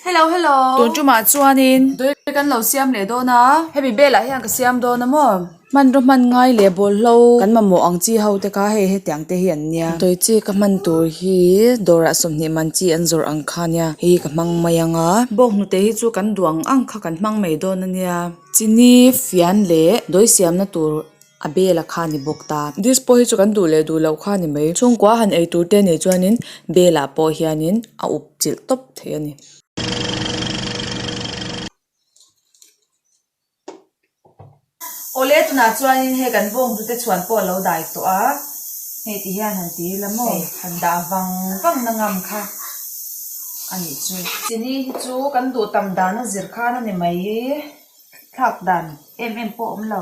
Hello hello. Tun chu mah chuan in. Doi kan lo siam leh dawn a. Hemi bel ah hian ka siam dawn a maw. Hman rawh hman ngai leh bawl hlo. Kan mamawh ang chi ho te kha hei hetiang te hi an nia. Doi chi ka hman tur hi dawr ah sawmhnih man chi an zawrh ang kha nia hi ka hmang mai ang a. Bawk hnute hi chu kan duang ang kha kan hmang mai dawn a nia. Chini fian leh doi siam na tur. a bela kha a ni bawk ta. Dispo hi chu kan duh leh duh loh kha a ni mai. Chhungkua han ei tur te nei chuanin belah pawh hianin a uk chilh tawp thei a ni. Awle tunah chuanin hei kan bawngtu te chhuan pawh a lo dai tawh a, hei ti hian han ti ila maw? Han dah vang vang na ngam kha a nih chu. Chini hi chu kan duh tam dan a zir khan a ni mai. Thlak dan em em pawh a awm lo.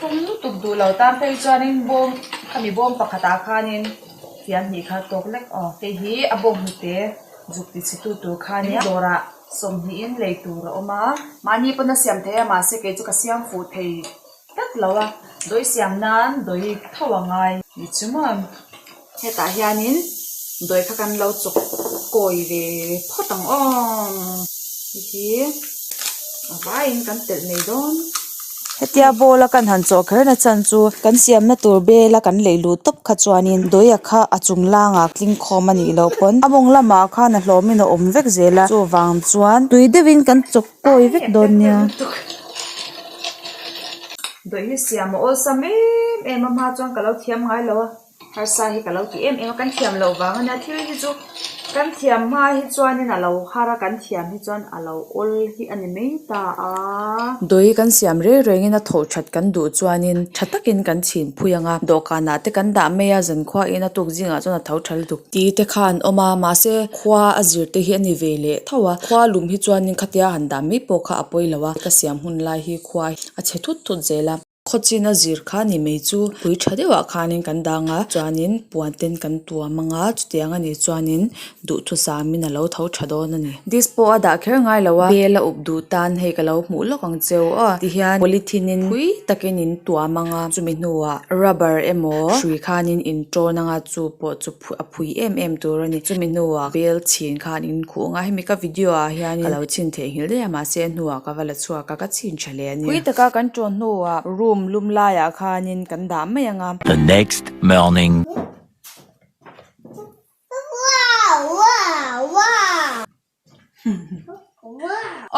Tum lutuk duh lo tan phei chuanin bawm khami bawm pakhatah khanin fian hnih kha tawk lek aw hei hi a bawm hnute zuk ti chhi tu tur kha nia dawrah sawmhnihin lei tur a awm a. Mahni pawh na siam thei a mahse kei chu ka siam fuh thei tlat lo a dawi siam nan dawi tho a ngai. Ni chu maw. Hetah hianin dawi kha kan lo chawk kawi ve phawt ang awm. Hei hi a vaiin kan telh mai dawn. Hetia ball a kan han chaw kher nachan chu kan siamna tur bela kan lei luh tawp kha chuanin dawia kha a chung langa tling khawm a nih loh pawn. A mawng lamah khan a hlawmin a awm vek zel a, chuvang chuan tui deuhin kan chawk kawi vek dawn nia. Dawih hi siam a awlsam em em a, hma chuan ka lo thiam ngai lo a. Harsa hi ka lo ti em em a, kan thiam loh vanga nia, thil hi chu kan thiam hma hi chuanin a lo har a, kan thiam hi chuan a lo awl hi a ni mai ta a. Dawi kan siam reng rengin a tho that kan duh chuanin tha takin kan chhin phui ang a, dawhkanah te kan dah mai a, Zankhuain a natuk zingah chuan a tho tha lutuk. Ti te kha an awm a, mahse khua a zir te hi a ni ve leh thauh a, khua lum hi chuanin khatia a han dah mai pawh kha a pawi lo a, ka siam hun lai hi khua hi a chhe thut thut zel a. Khawchin a zir kha ni mai chu pui tha deuh ah khan kan dang a chuanin puan ten kan tua mang a chuti ang ani chuanin duhthusam in a lo tho tha dawn ani this pawh a dah kher ngai lo a bel a up duh tan hei ka lo hmuh lawk ang che aw ti hian polythene in pui takin in tua mang a chumi hnuah rubber emaw hrui khan in in ṭawn anga chu pawh chu-- a phui em em tur a ni chumi hnua bel chhin khan in khuh anga hemi ka video ah hian a lo chhin theihngilh daih a mahse a hnua ka va la chhuak a ka chhin tha leh a ni. Phui taka kan ṭawn hnu a room lum lai ah khan in kan dah mai ang a. The next morning.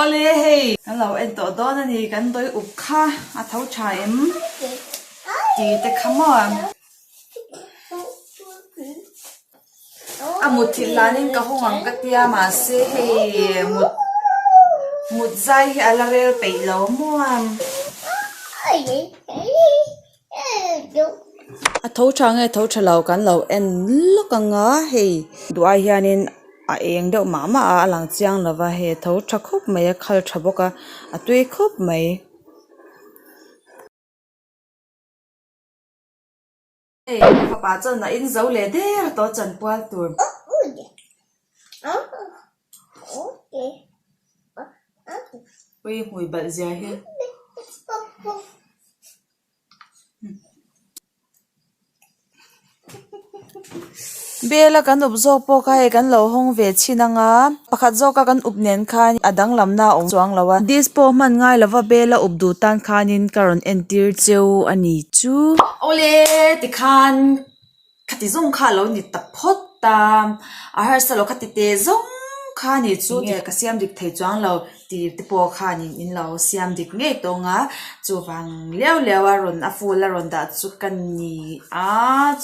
Awle hei kan lo en tawh dawn a ni, kan dawi uk kha a tho tha em? Ti te kha maw? A mut thih lan in ka hawng ang ka ti a, mahse hei mut mut zai hi a la rel peih lo muam. a tho tha nge tho tha lo kan lo en lawk ang a hei duhai hianin a eng deuh mah mah a a lang chiang lo va hei a tho tha khawp mai a khal tha bawk a a tui khawp mai. Bela kan up zawk pawh kha hei kan lo hawng ve chhin ang a, pakhat zawka kan up nen khan a danglamna a awm chuang lo a, this pawh hman ngai lova Bela up duh tan khanin ka rawn entir cheu a ni chu. Awle tikhan. Kha ti zawng kha alo ni ta phawt ta, a harsal aw kha ti teh zawng kha ni chu nge ka siam dik thei chuang lo ti te pawh khan in in lo siam dik ngei tawng a, chuvang liau liau a rawn a full a rawn dah chu ka ni a,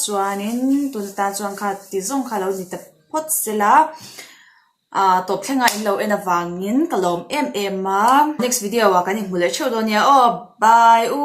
chuanin tun atan chuan kha ti zawng kha alo ni ta phawt sel a, ahh tawp thleng a in lo en avangin ka lawm em em a, next video ah kan inhmu leh theuh dawn nia aw bye u.